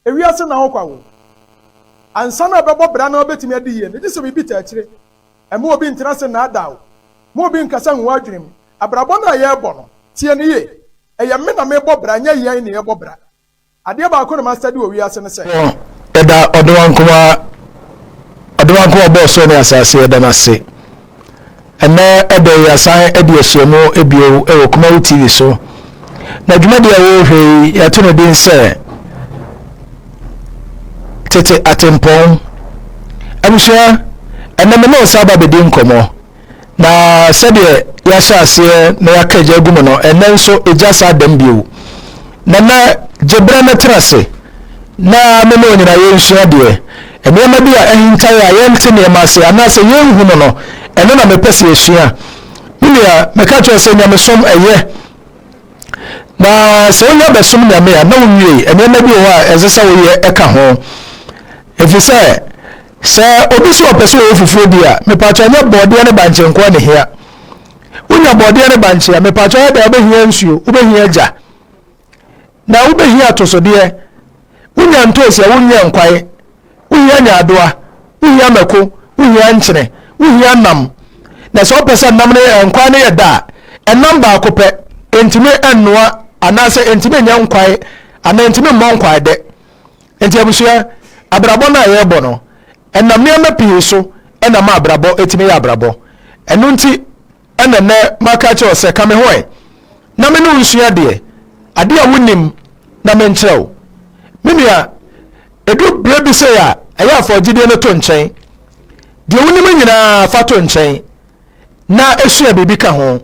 Ewiase na ɔkwa wɔ. Ansa na ɛbɛbɔ bra na wobetumi adi yiye no, gye sɛ biribi taa akyire. Mma obi ntena ase nnaadaa wo. Mma obi nnkasa ngu w'adwene mu. Abrabɔ no a yɛrebɔ no, tie no yiye. Ɛyɛ me na merebɔ bra, ɛnyɛ yɛn na yɛrebɔ bra. Adeɛ baako na masɛde wɔ wiase no sɛ. Yɛda Ɔdewaa Nkomaa, Ɔdewaa Nkomaa a Ɔbɔɔ Soro ne Asase, yɛda no ase. Ɛnnɛ da yi yɛasan adi ahyiam bio wɔ Kumawi TV so, na dwumadi a wɔrehwɛ yi yɛato no din sɛ Tete Atempɔn. Abusua, ɛnnɛ me ne nsa aba bɛdi nkɔmmɔ, na sɛdeɛ yɛahyɛ aseɛ na yɛaka gya agu mu no, ɛnnɛ nso gya saa dɛm bio. Nana Gyebrɛ mɛtena ase na me ne onyinayɛ nsua deɛ. Nneɛma bi a ahintae a yɛnte nneɛma ase anaasɛ yenhu no no, ɛno na mepɛ sɛ yesua. Me nua, mɛka akyerɛ wo sɛ nyamesom ɛyɛ. Na sɛ wonya bɛsom Nyame a, na wuwiei. Nneɛma bi wɔ hɔ a ɛnsɛ sɛ woyɛ ɛka ho. Efisɛ sɛ obi se ɔpɛ sɛ ɔyɛ fufuo bi a, mepaakyɛ nyɛ bɔɔdeɛ ne bankye nkoa na ehia. Wonya bɔɔdeɛ ne bankye a, mepaakyɛ yɛ dɛn? Wobɛhia nsuo, wobɛhia gya. na wobɛhia atosodeɛ, wonya ntoosi a wonwia nkwae, wohia nyaadoa, wohia mako, wohia nkyene, wohia nam. Na sɛ wopɛ sɛ nam no yɛ nkwae no yɛ da a, ɛnam baako pɛ, ɛntumi nnoa anaasɛ ɛntumi nyɛ nkwae anaa ɛntumi mmɔ nkwae dɛ. Nti abusua, abrabɔ no a yɛrebɔ no, ɛnam nneɛma pii so ɛna ma abrabɔ ɛtumi yɛ abrabɔ. Ɛno nti, Ɛna nnɛ maka akyerɛ wo sɛ, Ka me ho ɛ, na me ne wo nsua adeɛ, adeɛ a wonnim na menkyerɛ wo. Me nua, ɛduru berɛ bi sei a, ɛyɛ a fa ɔgyedeɛ no to nkyɛn. Deɛ wonim nyina ara fa to nkyɛn na sua biribi ka ho.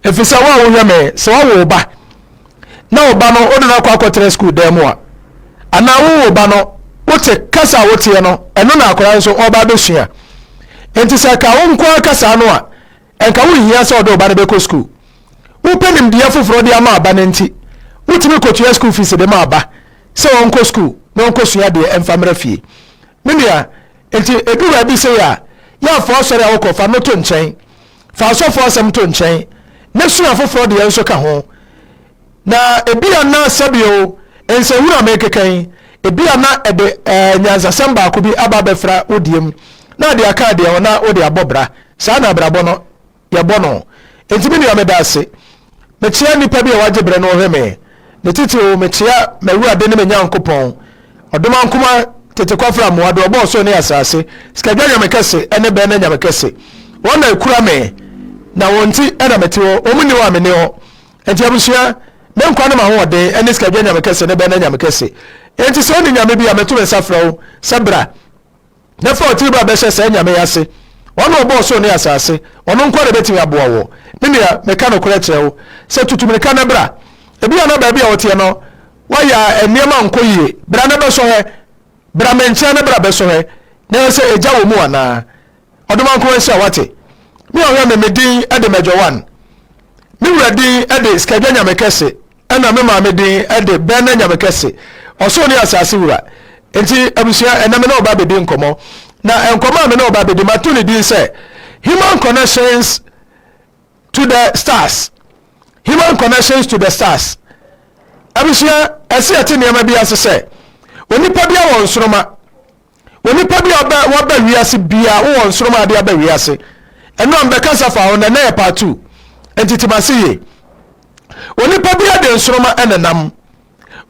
Ɛfiri sɛ wo a wohwɛ me, sɛ woawo wo ba, na wo ba no wode no akɔ akɔtena sukuu dan mu a anaa wo wo ba no wote kasa a woteɛ no ɛno na akwadaa nso ɔba abɛsua nti sɛ ka wo nko ara kasa no a ɛnka wohia sɛ ɔde wo ba no bɛkɔ sukuu wopɛ nimdeɛ foforɔ de ama aba no nti wotumi kɔtua sukuu fees de ma aba sɛ ɔnkɔ sukuu na ɔnkɔsua deɛ ɛmfa mmra fie me nua nti ɛdu baabi sɛ yɛ a yɛafoɔ asɔre a wokɔ fa no to nkyɛn Fa asɔfo asɛm to nkyɛn na sua afoforo deɛ nso ka ho. Na ebia na sɛbio nsɛnhunu a merekeka yi, ebia na ɛde eh, nyansasɛm baako bi aba abɛfra wo deɛ mu, na ade aka deɛ ho na wode abɔ bra. Saa na abrabɔ no yɛbɔ no. Enti me nua meda ase. Mekyea nnipa bi a wɔagye bere no hwɛ me, ne titiriw mekyea m'Awurade ne me Nyankopɔn, ɔdom ankoma, tete kwafra mmoa, de ɔbɔɔ soro ne asase, sikadwa nyame kɛse ne bɛnna nyame kɛse. Wɔn na ekura me, na wɔn nti na mete hɔ, wɔn nni hɔ a menni hɔ. Enti abusua, me nkwa ne m'ahoɔden ne sikadwa nyame kɛse ne bɛnna nyame kɛse. Enti sɛ onni nyame bi a, meto me nsa frɛ wo sɛ bra. na fa wo tiri ba bɛhyɛ saa Nyame yi ase, ɔno ɔbɔ ɔsoro ne asase, ɔno nkoa na ɛbɛtumi aboa wɔ. Me nua, meka nokorɛ kyerɛ wo sɛ tutu mirika na bra. Ebia na baabi a woteɛ no wayɛ a nneɛma nkɔ yie, bra na bɛsɔhwɛ, bra me nkyɛn na bra bɛsɔhwɛ na yɛhwɛ sɛ agya wɔ mu anaa. Ɔdomaa nkoa nhyira wate. Me a ɔhwɛ me me din de Major One, me wura din de Skadwa Nyamekɛse. Ɛna me maame din de Bɛɛna Nyamekɛse, ɔsoro ne asase wura. Enti abusua, ɛnɛ me ne ɔba bɛdi nkɔmmɔ. Na nkɔmmɔ a me ne ɔba bɛdi, mato ne din sɛ Human Connections to the Stars. Human Connections to the Stars. Abusua, ɛse yɛte nneɛma bi ase sɛ, onipa biara wɔ nsoroma. Onipa bi a ɔbɛ waba wiase biara wowɔ nsoroma ade aba wiase. Ɛno a mbɛkasa fa ho na ɛnɛ yɛ part two. Nti te mase yie. Onipa biara de nsoroma ɛna nam.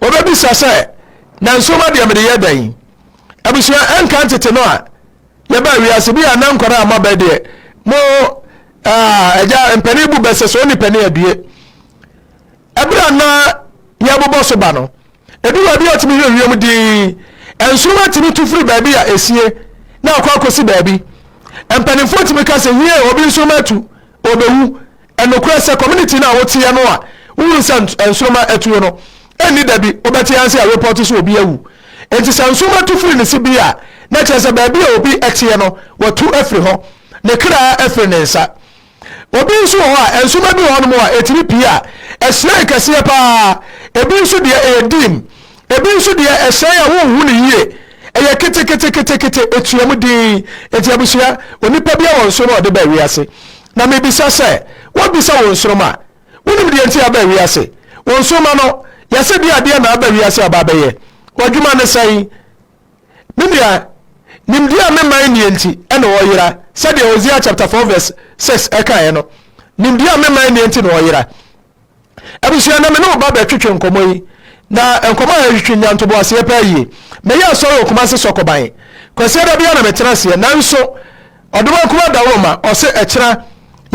Wɔbɛbisa sɛ na nsoroma deɛ mede yɛ dɛn? Abusua ɛnka ntete no a yɛbaa wiase bi a na nkwadaa a moabɛ deɛ mo ɛgya mpanin bu bɛsɛ so ɔni pɛne adue. ɛberɛ a na yɛrebobɔ so ba no edu baabi a ɔtumi hwɛ wiem dinn nsoroma tumi tu firi baabi a esie na akɔ akɔsi baabi mpanimfoɔ tumi ka sɛ hie obi nsoroma atu obewu ɛnokorɛ sɛ community no a woteɛ no a wohunu sɛ nsoroma atuo no ɛnni da bi wobɛte yɛn sɛ report so obi awu nti sɛ nsoroma tu firi ne si bi a na kyerɛ sɛ baabi a obi ɛteɛ no watu afiri hɔ ne kra afiri ne nsa Obi nso wɔ hɔ a, nsoma bi wɔ hɔnom a ɛtumi pii a, ɛhyerɛn kɛseɛ paa. Ebi nso deɛ ɛyɛ dim. Ebi nso deɛ ɛhyerɛn a wonhu no yie. Ɛyɛ keteketeketekete, ɛtuam dinn. Enti abusua, onipa biara wɔ nsoroma a ɔde ba wiase. Na mebisa sɛ, wobisa wo nsoroma? Wonim deɛ nti aba wiase? Wo nsoroma no, yɛse deɛ adeɛ na aba wiase aba abɛyɛ? W'adwuma ne sɛn? Me nua, nimdeɛ a me man nnie nti na wɔyera, sɛdeɛ Hosea chapter 4 verse 6 kaeɛ no, nimdeɛ a me man nnie nti na wɔyera. Abusua, na me ne wo ba bɛtwetwe nkɔmmɔ yi, na nkɔmmɔ a ɛtwetwe nya ntoboaseɛ paa yie. Meyɛ asɔre wɔ Kumase Sɔkɔban. Kwasiada biara na metena aseɛ, nanso Ɔdomaa kumaa dawuroma ɔse ɛkyena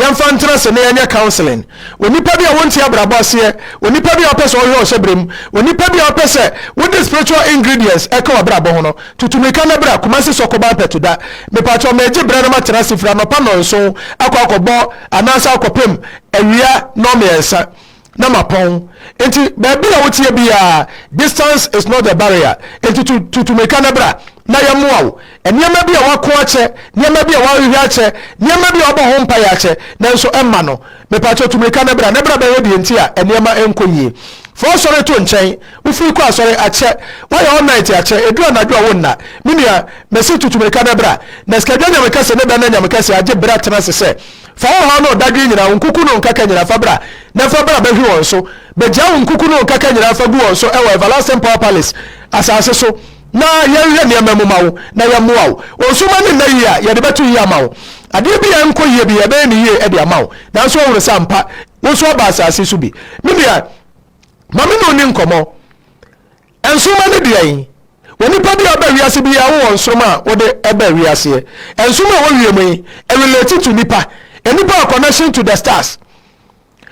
yɛnfa ntena ase na yɛnyɛ counseling onipa bi a wonte abrabɔ aseɛ, onipa bi a ɔpɛ sɛ ɔhwɛ ɔhyɛbrɛ mu, onipa bi a ɔpɛ sɛ wode spiritual ingredients ɛka wabrabɔ ho no, tutu mirika na bra Kumasi Sɔkoban Pɛtoda. Mepakyɛw megye berɛ na matena ase firi anɔpa nnɔnson akɔ akɔbɔ anaasɛ akɔpem awia nnɔmmiɛnsa. na mapɔn nti baabi a woteɛ biara distance is not a barrier nti tutu mmirika no bra na yɛmmoa wo nneɛma bi a wako akyɛ nneɛma bi a wahwehwɛ akyɛ nneɛma bi a wabɔ ho mpaeɛ akyɛ nanso ɛmma no mepakyɛ tu mmirika no bra na bra bɛhwɛ deɛ nti a nneɛma nkɔ yie fa ɔsɔre to nkyɛn wofiri kɔ asɔre akyɛ woayɛ all night akyɛ ɛdu anadwo a wo nna me nua mɛsi tutu mmirika no bra na sikadwa nyamekɛse ne bɛna nyamekɛse agye berɛ atena se sɛ Fa wo haw ne wo dadwen nyina, wo nkuku ne wo nkaka nyina fa bra, na fa bra bɛhwe wɔn so. Begyaa wo nkuku ne wo nkaka nyina fa gu wɔn so wɔ Everlasting Power Palace asase so, na yɛnhwɛ nneɛma mu ma wo, na yɛmmoa wo. Wo nsoromma ne nna yie a, yɛde bɛto yie ama wo. Adeɛ biara nkɔ yie bi, yɛbɛyɛ no yie de ama wo. Nanso woahunu sɛ ampa, wo nso woaba asase so bi. Me nua, ma me ne wo nni nkɔmmɔ. Nsoromma ne deɛn? Onipa bi a ɔba wiase bi yɛ wowɔ nsoromma a wode ba wiaseɛ. Nsoromma a ɛwɔ wiem yi relate to nipa, a nipa wɔ connection to the stars.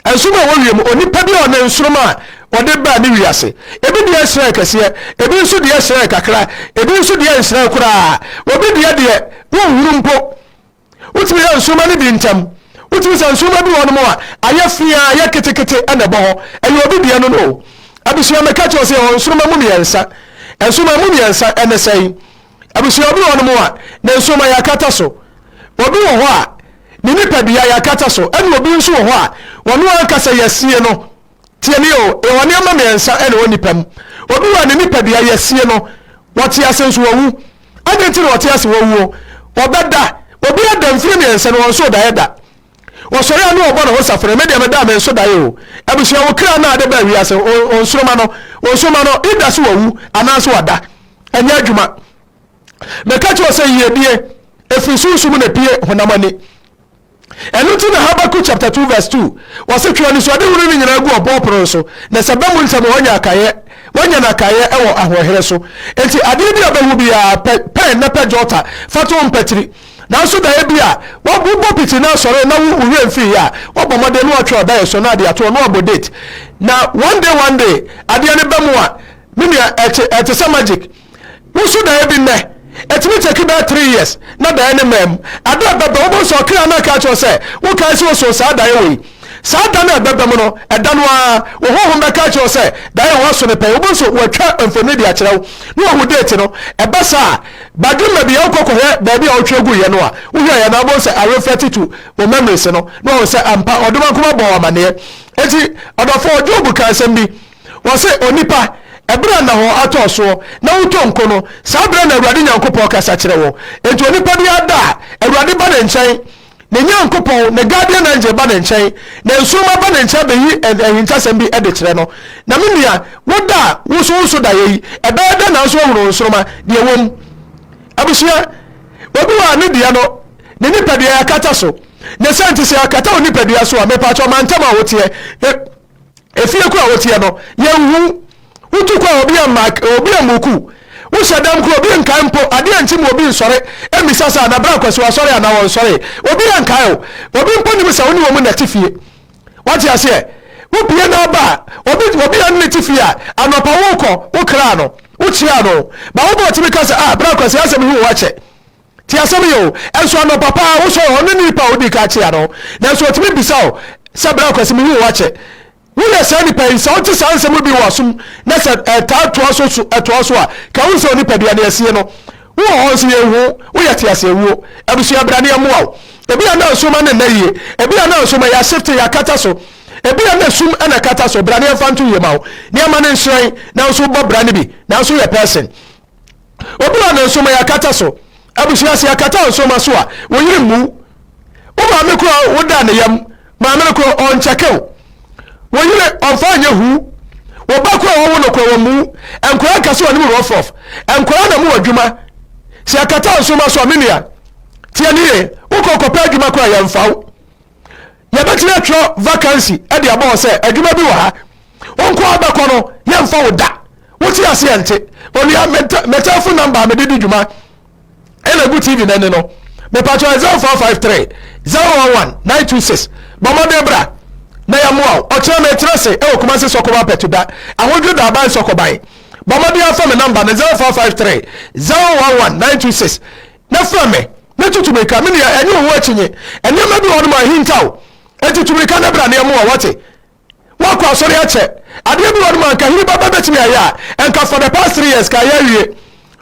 Nsoromma a ɛwɔ wiem, onipa bi a ɔne nsoromma a ɔde baa ne wiase. Ebi deɛ hyerɛn kɛseɛ, ebi nso deɛ hyerɛn kakra, ebi nso deɛ nhyerɛn koraa. Obi deɛ deɛ wonhunu mpo. Wotumi yɛ nsoromma no bi ntam. Wotumi sɛ nsoromma bi wɔ hɔnom a ayɛ fea, ayɛ ketekete na ɛbɔ hɔ. Ɛyɛ obi deɛ no no o. Abusua mɛka kyerɛ sɛ yɛwɔ nsoromma mu mmiɛnsa. Nsoromma mu mmiɛnsa ɛne sɛn? Abusua obi wɔ hɔnom a ne nsoromma yɛakata so. Obi wɔ hɔ a ne nipadua yɛakata so ɛne obi nso wɔ hɔ a wɔn ankasa yɛasie no. Tie me o, ewɔ nneɛma mmiɛnsa na ɛwɔ nipa mu. Obi wɔ a ne nipadua yɛsie no, ɔte ase nso ɔwu. Adɛn nti na ɔte ase wawuo? Ɔbɛda. Obi ada mfiri mmiɛnsa no ɔnso daeɛ da. Ɔsɔre a ne ɔbɔ ne ho safene, me deɛ meda a menso daeɛ o. Abusua wo kra no a de baa wiase, ɔnsoroma no, ɔnsoroma no, ida so wawu anaasɛ wada. Ɛnyɛ adwuma. Meka kyerɛ sɛ yiedie, ɛfiri sunsum na ɛpue honam ani. Ɛno nti na Habakuk chapter two verse two, wɔse, Twe anisoadehunu no nyinaa gu ɔbɔɔ pono no so, na sɛ bɛ mu ntɛm a wɔanya akaeɛ, wɔanya no akaeɛ wɔ ahoɔherɛ so. Enti adeɛ bi a bɛhu biara, pɛ pɛn na pɛ jota, fa to mpatiri. Nanso daeɛ bi a, wo, wobɔ piti na asɔre na wo, wo werɛ mfiiɛ a, woabɔ mmɔden na woatwerɛ daeɛ so na ade atoɔ na woabɔ date. Na one day one day, adeɛ no bɛ mu a, me nua, ɛte, ɛte sɛ magic. Woso daeɛ bi nnɛ, ɛtumi take bɛyɛ three years na daeɛ no mmaa mu. Ɛda a ɛbɛba, wobɛhu sɛ ɔkra no aka akyerɛ wo sɛ, Wokae sɛ wosoo saa daeɛ wei. Saa da no a ɛbɛba mu no, ɛda no ara, wo honhom bɛka akyerɛ wo sɛ, Daeɛ a woaso no pɛn. Wobɛhu sɛ wɔatwa mfonini de akyerɛ wo na woahu date no. Ɛba saa a, badwene baabi a wokɔ kɔhwɛ baabi a wotwerɛ guiɛ no a, wohwɛeɛ no a, wobɛhu sɛ areflɛte to wo memories no na woahu sɛ ampa Ɔdomankoma bɔɔ wo amanneɛ. Enti, ɔdɔfoɔ Job kaa asɛm bi. Wɔse, Onipa, ɛberɛ a nnahɔɔ atɔɔ soɔ na wotɔ nko no, saa berɛ na Awurade Nyankopɔn kasa kyerɛ wɔn. Enti onipa biara da a, Awurade ba ne nkyɛn, ne Nyankopɔn, ne Guardian Angel ba ne nkyɛn, na nsoromma ba ne nkyɛn bɛyi ahintasɛm bi de kyerɛ no. Na me nua, wo da a woso wo so daeɛ yi, ɛbɛyɛ dɛn na nso ahunu nsoromma, deɛ ɛwɔ mu? Abusua, obi wɔ a ne deɛ no, ne nipadua yɛakata so. Ne sɛ nti sɛ yɛakata wo nipadua so a, mepaakyɛw ma ntɛm a woteɛ, efie koro a woteɛ no yɛnhu wotu kɔ a obi amma obi ammuku wohyɛ dɛm koro obi nkae mpo adeɛ nti mu obi nsɔre mmisa sɛ na bra kwasi wasɔre anaa wɔnsɔre obi ankae o obi mpo nim sɛ wo ne wɔ mu na te fie wate aseɛ wopie na aba a obi obi a ne te fie a anɔpa wokɔ wokraa no wokyia no ba wobɔ ɔtumi ka sɛ ah bra kwasi asɛm yi wo akyɛ Tie asɛm yi o, Ɛnso anɔpa pa ara wosɔre hɔ, ɔno ne nipa a wodii kan kyeaa no, nanso otumi bisa wo sɛ, Bra Kwasi, mihu wo akyɛ. Woyɛ saa nipa yi? Sɛ wote saa nsɛm yi bi wɔ w'asom na sɛ ɛtaa toa so so ɛtoa so a, ka hu sɛ onipadua no asie no. Wowɔ hɔ nso yenhu wo, woyɛ teaseawuo. Abusua, bra na yɛmmoa wo. Ebia na nsoromma no nna yie, ebia na nsoromma yɛashifte, yɛakata so, ebia na sum na ɛkata so. Bra na yɛmfa nto yie ma wo, na yɛma no nhyerɛn. Nanso wobɔ bra no bi, nanso woyɛ person. Obi a ɔde nsoma yɛ akata so. Abusua sɛ yɛkata nsoma so a, wo yere mmu wo. Wo maame koro a woda ne yam, maame no koro ɔnkyɛke wo. Wo yere ɔmfa nyɛ hu. Wo ba koro a wɔwo no koro wɔmmu wo. Nkwadaa nka sɛ wɔne mu rɔfrɔf. Nkwadaa na mu wɔ adwuma. Sɛ yɛkata nsoma so a, me nua, tie ne yie. Wokɔ kɔpɛ adwuma koro a, yɛmfa wo. yɛbɛtumi atwerɛ vacancy de abɔ hɔ sɛ adwuma bi wɔ ha wonko abɛkɔ no yɛmfa wo da wote aseɛ nte onua me telephone number mede di dwuma ɛna gu tv no ani no mepatwɛ 0453 011 926 bɔ mmɔden bra na yɛmmoa wo ɔkyerɛ metra se ɛwɔ kuma se sɔkɔba pɛtuda ahodwo da aban sɔkɔban bɔ mmɔden afa me number no 0453 011 926 na frɛ me, na tutu mirika, me nua, ɛnyɛ owu akyinnye. Nneɛma bi wɔ hɔnom a ahintaw, enti tu mirika na bra na yɛmmoa wo, wate? Woakɔ asɔre akyɛ. Adeɛ bi wɔ hɔnom a anka Hene Baba betumi ayɛ a, ɛnka for the past three years, kaeɛ awie.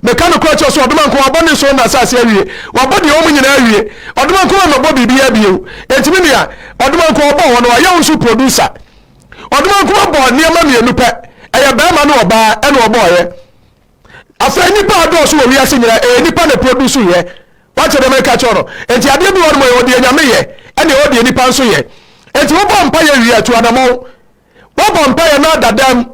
Meka nokorɛ kyerɛ wo sɛ, ɔdoma nkoa wabɔ ne nsono na asase awie. Wabɔ deɛ ɛwɔ mu nyinaa awie. Ɔdoma nkoa ammɛbɔ biribiara bio. Enti me nua, ɔdoma nkoa ɔbɔɔ hɔ no, wayɛ wo nso producer. Ɔdoma nkoa bɔɔ nneɛma mmienu pɛ, ɛyɛ barima ne ɔbaa, ɛna ɔbɔeɛ. Afei nnipa a ɛdɔɔso wɔ wiase nyinaa, ɛyɛ nnipa na ɛproduusu yɛ. Woate deɛ mereka kyerɛ wo no? Enti adeɛ bi wɔ hɔ nom a yɛwɔ deɛ Nyame yɛ, ɛne ɛwɔ deɛ nnipa nso yɛ. Enti wobɔ mpaeɛ wie a, tu anamɔn. Woabɔ mpaeɛ na da dam.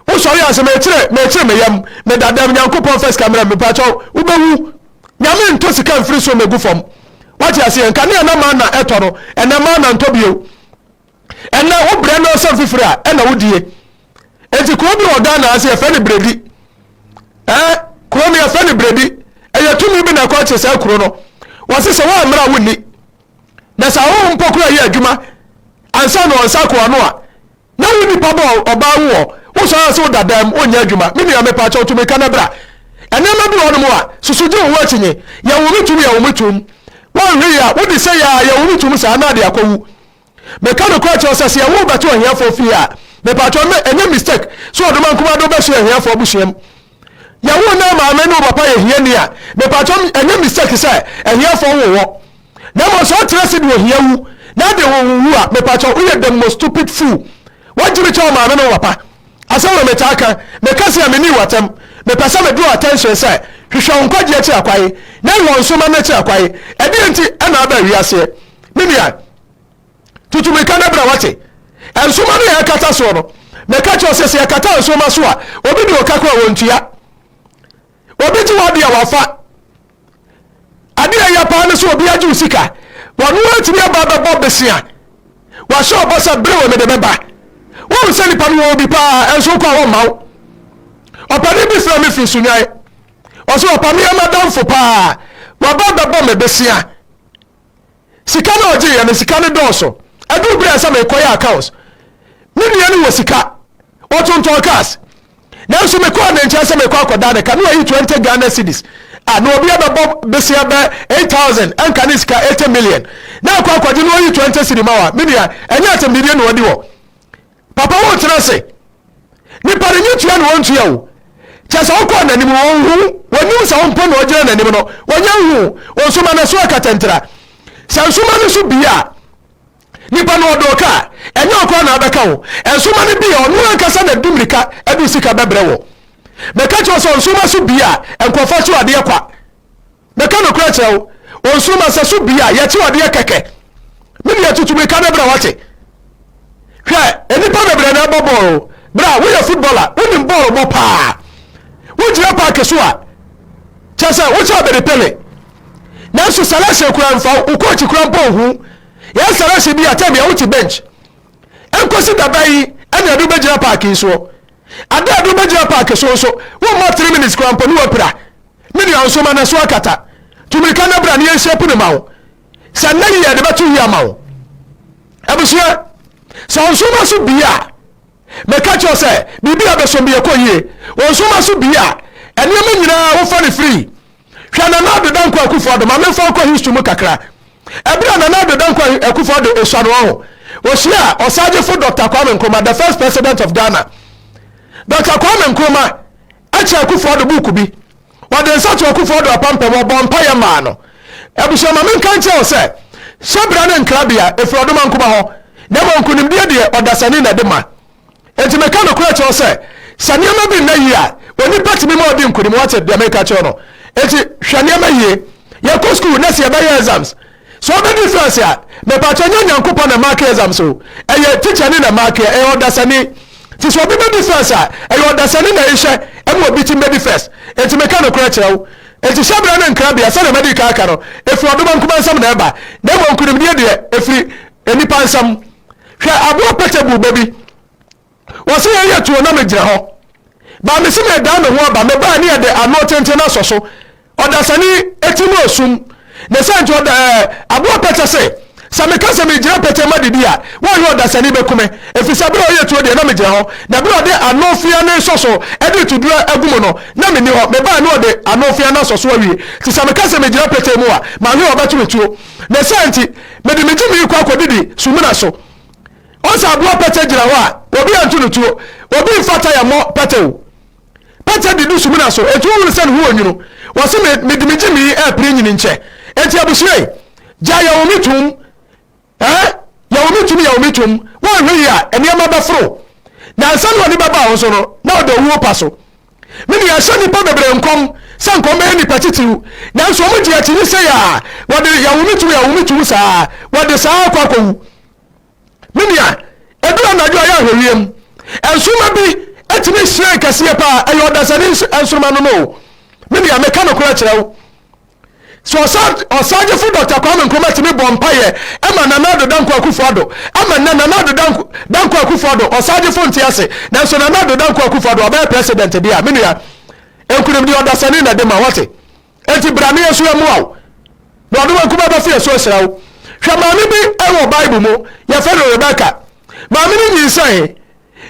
Wosɔre ansa, mekyere, mekyere me yam, meda dam, Nyankopɔn mfa sika mmrɛ me, mpakyɛw, wobɛwu. Nyame ntɔ sika mfiri soro mmɛgu fam. Woate aseɛ? Nkanea na manna ɛtɔ no, ɛnnɛ manna ntɔ bio. Ɛnnɛ, wobrɛ no nsɛm fifiri a, ɛna wodie. Enti kuro bi wɔ Ghana ase, yɛfrɛ no Bredi. Ɛɛ, kuro no yɛfrɛ no Bredi. Ɛyɛ tumi bi na ɛkɔ kye saa kuro no. Wɔse sɛ woammrɛ a wonni. Na sɛ ahohom mpo kura yɛ adwuma, ansa na ɔnsa ko ano a, na wo nipa bɔ ɔbaa wo wɔ wosɔre ase woda dan mu wonyɛ adwuma. Me nua mepa kyɛw tumi ka na bra. Ɛnneɛma bi wɔ hɔ nom a, susu gye wo ho akyinye. Yɛwo me tum, yɛwo me tum. Wɔnhwe yɛ a, wode sɛ yɛ a, yɛwo me tum saa na ade akɔwu. Meka nokorɛ kyerɛ wo sɛ, sɛ yɛwo wo bɛto ahiafoɔ fie a, mepatwɔ me, ɛnyɛ mistake sɛ ɔdoma nkumaa de wo bɛhyɛ ahiafoɔ abusua mu? Yɛwo ne maame ne wo papa yɛ hiani a, mepatwɔ me, ɛnyɛ mistake sɛ ahiafoɔ wo wɔ? Na mmom sɛ ɔtena ase de ohia wu na ade wo wo wu a, mepatwɔ woyɛ the most stupid fool. Wɔgye me kyɛ wo maame ne wo papa. Asɛm na metaa ka, meka sɛ menni w'atam. Mepɛ sɛ me draw attention sɛ hwehwɛ wo nkwagyeɛ kyerɛ kwae na wɔ nso ma no kyerɛ kwae. Ɛdeɛn nti na aba awiaseɛ? me nua tutu mirika no bra wate nsoroma no yɛ ɛkata soɔ no mɛka kyerɛ sɛ sɛ yɛkata nsoroma so a obi de ɔka kora wɔntua obi gye wade a wafa adeɛ yɛ paa no sɛ obi agye wo sika wɔno atumi aba bɛbɔ besia wahyɛ ɔbɔ sɛ bere wɔ mede bɛba wohu sɛ nipa no wɔ obi paa ɛnso kɔ a wɔmma wo ɔpani bi frɛ me firi sunwae ɔsɛ ɔpame amadamfo paa waba bɛbɔ me besia sika no a ɔgyeeɛ no sika no dɔɔso ɛduru berɛ a ɛsɛ mekɔyɛ accounts me nua no wɔ sika ɔtontɔn cars nanso mekɔɔ ne nkyɛn sɛ mekɔ akɔda ne ka ne wayi 20 Ghana cedis a na obi abɛbɔ besia bɛ 8000 ɛnka ne sika 80 million na akɔ akɔgye no ɔyi 20 cedi ma wa me nua ɛnyɛ asɛmdidie na ɔdi hɔ Papa wo tena ase. Nipa no nye tua na wɔntua o. Kyerɛ sɛ wokɔɔ n'anim no ɔnhu wo. Wɔnnim sɛ wo mpo na ɔgyina n'anim no. Ɔnyɛ nhu wo. Wo nso ma n'aso akatantira. Sɛ nsoma no so bie a, nipa no ɔdɔ ka a, ɛnyɛ wo koraa na abɛka wo. Nsoma no bie a, ɔno ankasa na ɛde mmirika de sika bɛbrɛ wo. Meka kyerɛ wo sɛ nsoma so bie a, nkurɔfoɔ so adeɛ kwa. Mɛka nokorɛ kyerɛ wo, onsoromma sɛ so bia yɛte wo adeɛ kɛkɛ, me deɛ tutu mmirika no berɛ a wate. Hwɛ, nnipa bebree na ɛbɔ bɔɔl, berɛ a woyɛ footballer, wonim bɔɔl bɔ paa. Wogyina park so a, kyerɛ sɛ wokyɛ abɛdi Pele. Nanso selection koraa mfa wo, wo coach koraa mpo nhu wo. Yɛyɛ selection bi a, time biara wote bench. Ɛnkɔsi da bɛn yi na yɛde wo bɛgyina park yi soɔ? Ada a yɛde wo bɛgyina park so nso, womma three minutes koraa mpo ne woapira. Me nua, nso ma n'aso akata. Tu mmirika na bra na yɛnhyia pu no ma wo. Sɛ nnɛ yie a, yɛde bɛto yie ama wo. Abusua, sɛ ɔnsoroma so bie a, meka kyerɛ wo sɛ, biribi a bɛsom bi ɛkɔ yie. Ɔnsoroma so bie a, nneɛma nyinaa wofa no firi. Hwɛ Nana Addo Dankwa Akufo-Addo, ma memfa wo kɔ history mu kakra. Ɛberɛ a Nana Addo Dankwa Akufo-Addo ɛsua no ɔho, ɔhyiaa Ɔsagyefo Dɔkta Kwame Nkrumah, the first president of Ghana. Dɔkta Kwame Nkrumah, Akyere Akufo Addo book bi. Wɔde nsa to Akufo Addo apampam, wɔbɔɔ mpaeɛ maa no. Abusua, ma menka nkyerɛ wo sɛ, hyɛbra ne nkrabea, ɛfiri ɔdomankoma hɔ, na mmom nkonimdie deɛ, ɔdasani na ɛde ma. Enti meka nokorɛ kyerɛ wo sɛ, sɛ nneɛma bi nna yie a, onipa tumi ma ɔdi nkonim, woate deɛ meka kyerɛ wo no? Enti hwɛ nneɛma yie. Yɛkɔ sukuu, na sɛ yɛbɛyɛ exams, Sɛ ɔbɛ difference a mɛpakyɛ nyɛ Nyankopɔn na mark exams o ɛyɛ teacher no na mark yɛ ɛyɛ ɔdasani nti sɛ ɔbɛ bɛ difference a ɛyɛ ɔdasani na ɛnhyɛ ɛma ɔbi tim bɛ difference nti meka nokorɛ kyerɛ wo nti hyɛbrɛ ne nkrabea sɛdeɛ madi kan aka no ɛfiri ɔdoma nkuma nsam na ɛba na mmom nkunimdie deɛ ɛfiri nnipa nsam hwɛ aboa pɛtɛ buu bɛ bi Wɔse yɛn yɛ tuo na me gyina hɔ Ba mese me dan me ho aba Me baa ne yɛde ano tenten no asɔ so Ɔdasani ti no osum ne sɛ nti ɔda ɛɛ Aboa pɛkyɛ se sɛ me ka sɛ me gyina pɛkyɛ ma didi a Wɔyɛ ɔdasani bɛ kume Efisɛ bere a ɔyɛ tuo deɛ na me gyina hɔ Na bere a ɔde ano fea no nsɔ so de reto duro agu mu no na me nni hɔ Me baa ne ɔde ano fea no asɔ so awie Nti sɛ me ka sɛ me gyina pɛkyɛ mu a Mahwe ɔbɛto me tuo ne sɛ nti Mede me gyimii kɔ akɔ didi sumina so Ɔsɛ aboa pɛtɛ gyina hɔ a, obi antu no tuo, obi mfa taya mmɔ pɛtɛ o. Pɛtɛ de du sumina so, enti wohunu sɛ ne ho wɔ nwunu. Wɔse me, mede me gyimi repere nyini nkyɛ. Enti abusua yi, gya yɛwo me tom eh, yɛwo me tom, yɛwo me tom. Woanhwɛ yie a, nneɛma bɛforo. Na nsa no a nipa baa wo so no, na ɔda owuo pa so. Me nua, ɛhyɛ nnipa bebree nkɔm sɛ nka wɔbɛyɛ nnipa titiriw, nanso wɔgye akyinnye sei a wɔde yɛwo me tom, yɛwo me tom saa, wɔde saa ara kɔ akɔwu. Me nua, ɛduru anadwo a yɛ ahwɛwia mu. Nsoroma bi atumi hyerɛn kɛseɛ paa. Ɛyɛ ɔdasani nsoroma no no o. Me nua, meka nokorɛ kyerɛ wo. So ɔsagyefo Dr. Kwame Nkrumah tumi bɔ mpaeɛ ɛma Nana Addo Dankwa Akufo-Addo ɛma nnɛ Nana Addo Dankwa Akufo-Addo ɔsagyefo nte ase nanso Nana Addo Dankwa Akufo-Addo ɔbɛyɛ president deɛ a me nua nkunimdie ɔdasani na ɛde ma wate. Enti bra na yɛn nso yɛmmoa wo, na ɔde wɔn kumaa bɛfo yɛn so ahyira wo. Hwɛ maame bi wɔ Bible mu, yɛfrɛ no Rebeka. Maame no nyinsɛnee.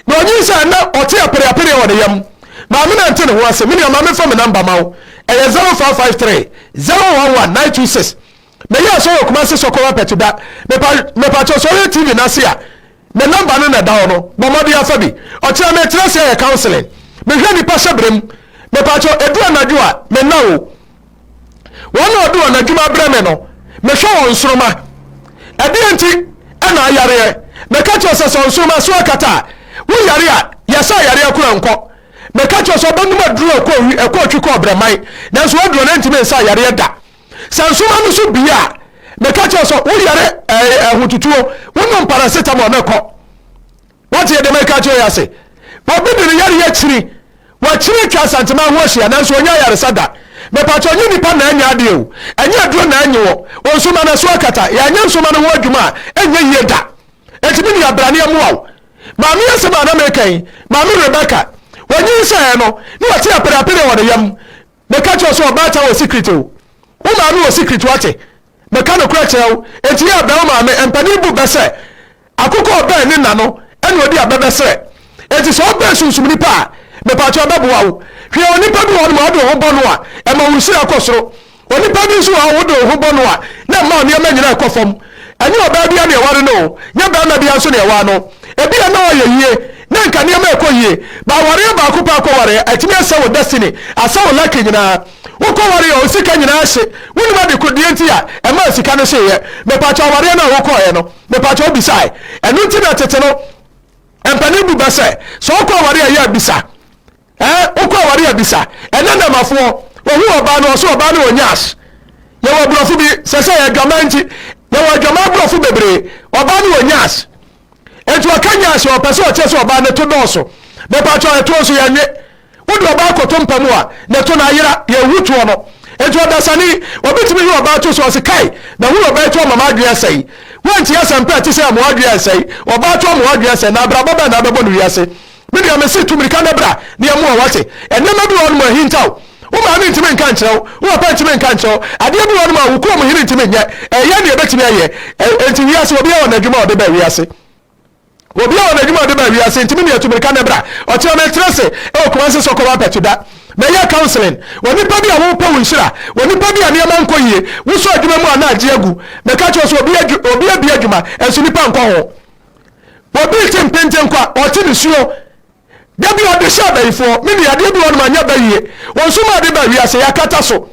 Na ɔnyinsɛn na ɔte apereapereɛ wɔ ne yam. Maame no ante ne ho ase. Me nua, ma memfa me namba ma wo. Ɛyɛ 0553 011 926. Me yɛ sɔre wɔ kumase sɔkɔ wa pɛti da mepa mepa kyɛw sɔre yɛ tv nase a me number no na ɛda hɔ no bɔ mmɔden afa bi ɔkyerɛ me kyerɛ sɛ yɛ counseling me hwɛ nipa hyɛ brem mepa kyɛw edu anadwo a me na o wɔn na ɔde wɔn adwuma abrɛ me no me hwɛ wɔn nsoroma ɛdeɛ nti ɛna ayareɛ me ka kyɛw sɛ sɛ nsoroma so akata a wo yare a yɛsɛ ayare akora nkɔ me ka kyɛw sɛ ɔbɛnum aduro ɛkɔ ɛkɔ otwi kɔ ɔbrɛman nanso waduro no ntumi nsa ayare da. Sɛ nsoma no so bue a, meka kyerɛ sɛ woyare ahotutuo, wonom paracetamol na kɔ. Wate yɛ deɛ meka kyerɛ yɛ ase. Obi de ne yareɛ akyiri, wakyiri atwa asantema ho ahyia nanso ɔnya ayaresa da. Mepatwɔ nye nipa na anya adeɛ o, ɛnyɛ aduro na anye wɔ, onsoma na so akata, yɛanyɛ nsoma no ho adwuma a ɛnyɛ yie da. Enti me nua bra ne ɛmoa wo. Maame asɛm a na meka yi, maame Rebecca, wɔnyinsɛn no, na wɔte apereapereɛ wɔ ne yam. Meka kyerɛ wo sɛ ɔbaatan wɔ secret o. Wo maame wɔ secret wate. Meka nokorɛ kyerɛ wo. Enti yɛ bɛn wo maame mpanin bu bɛ sɛ akokɔ a ɔbɛn ne na no ɛna ɔdi a bɛ bɛ serɛ. Enti sɛ wo bɛn sunsum nipa a mepakyɛw bɛ boa wo. Hwɛ onipa bi wɔ hɔ nom a ɔde wo ho bɔ no a ɛma wo nhyira kɔ soro. Onipa bi nso wɔ hɔ a wode wo ho bɔ no a na ɛma wo nneɛma nyinaa kɔ fam. Ɛnyɛ ɔbaa biara na ɛware no o, nyɛ barima biara nso na ɛwaa no. Ebia na ɔyɛ yie, na nka nneɛma rekɔ yie, but awareɛ baako pɛ a wokɔwareɛ, atumi asɛe wo destiny, asɛe wo lucky nyinaa. Wokɔwareɛ a, wo sika nyinaa hye. Wonim ade ko deɛ nti a ɛmaa sika no hyeeɛ? Mepakyɛw, awareɛ no a wokɔeɛ no, mepakyɛw wobisae? Ɛno nti na tete no, mpanin bu bɛ sɛ, sɛ wokɔ awareɛ a, yɛ a bisa. Eh wokɔ aware abisa ɛnɛ nnɛmafoɔ wɔhu ɔbaa no ɔse ɔbaa no wɔ nyash yɛwɔ aborɔfo bi sɛsɛ adwaman nti yɛwɔ adwaman aborɔfo bebree ɔbaa no wɔ nyash enti ɔka nyash ɔpɛ sɛ ɔkyerɛ sɛ ɔbaa ne to dɔɔso mepatwɔ ɛtoɔ nso yɛnwe wode ɔbaa kɔto mpa mu a ne to no ayera yɛhu toɔ no enti ɔdasani obi tumi he ɔbaa to so ɔse kae mahunu ɔbaa to ɔmama adwene asɛe woantie asɛmpa ɛte sɛ amoa adwene ansɛe ɔbaa to amoa adwene asɛe na abrabɔ bɛn na abɛbɔ no wiase Me nua, mese tu mmirika na bra na yɛmmoa wo, wate? Nneɛma bi wɔ hɔnom a ahintaw. Wo maame ntumi nka nkyerɛ wo, wo papa ntumi nka nkyerɛ wo, adeɛ bi wɔ hɔnom a wo kurom hene ntumi nyɛ. Ɛyɛ nea ɛbɛtumi ayɛ. Enti wiase, obiara wɔ n'adwuma a ɔde baa wiase. Obiara wɔ n'adwuma a ɔde baa wiase, enti me nua, tu mmirika na bra. Ɔkyena meretra ase wɔ Kumasi Soko Wampa Tuda. Mɛyɛ counseling wɔ nnipa bi a wɔrepɛ wo nhyira, wɔ nnipa bi a nneɛma nkɔ yie, wosɔ adwuma mu a na agye agu. Mɛka kyerɛ wo sɛ obi adwuma, nanso nnipa nkɔ ho. Obi rete mpente nko a, ɔte ne suo. Da bi ɔde hyɛ abayifoɔ, me nua, adeɛ bi wɔ no ma nyɛ bayie. Wɔn nso maa de ba wiase, yɛakata so.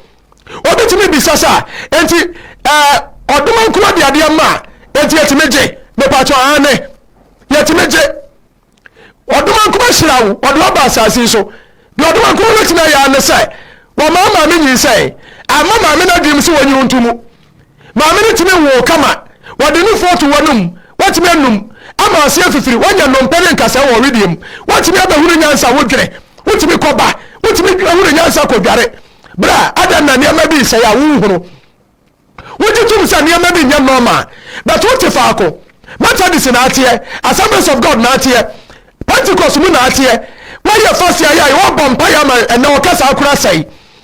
Obi tumi bisa saa, enti ɛɛ ɔdoma nko de adeɛ ma a, enti yɛtumi gye. Mepatwɔ aane, yɛtumi gye. Ɔdoma nko ahyira wo, ɔde waba asase yi so. Deɛ ɔdoma nko bɛtumi ayɛ ara ne sɛ, wɔmaa maame nyinsɛn, amma maame no adwenem sɛ wɔnyi wo nto mu. Maame no tumi nwoo kama. Wɔde nufoɔ to w'anom. Woatumi anum. Ama aseɛ fifiri. Woanya nnompe ne nkasɛɛ wɔ ɔwedeɛ mu. Woatumi abɛhunu nyansa. Wodwene. Wotumi kɔba. Wotumi hunu nyansa kɔdware. Bra, adɛn na nneɛma bi resɛe a wonhunu? Wogye tom sɛ nneɛma bi nyɛ normal, but wote faako. Methodist na ateɛ. Assemblies of God na ateɛ. Pentecost mu na ateɛ. Woayɛ fasiayɛ a wɔbɔ mpaeɛ ama ɛnɛ ɔkasa akora sɛe.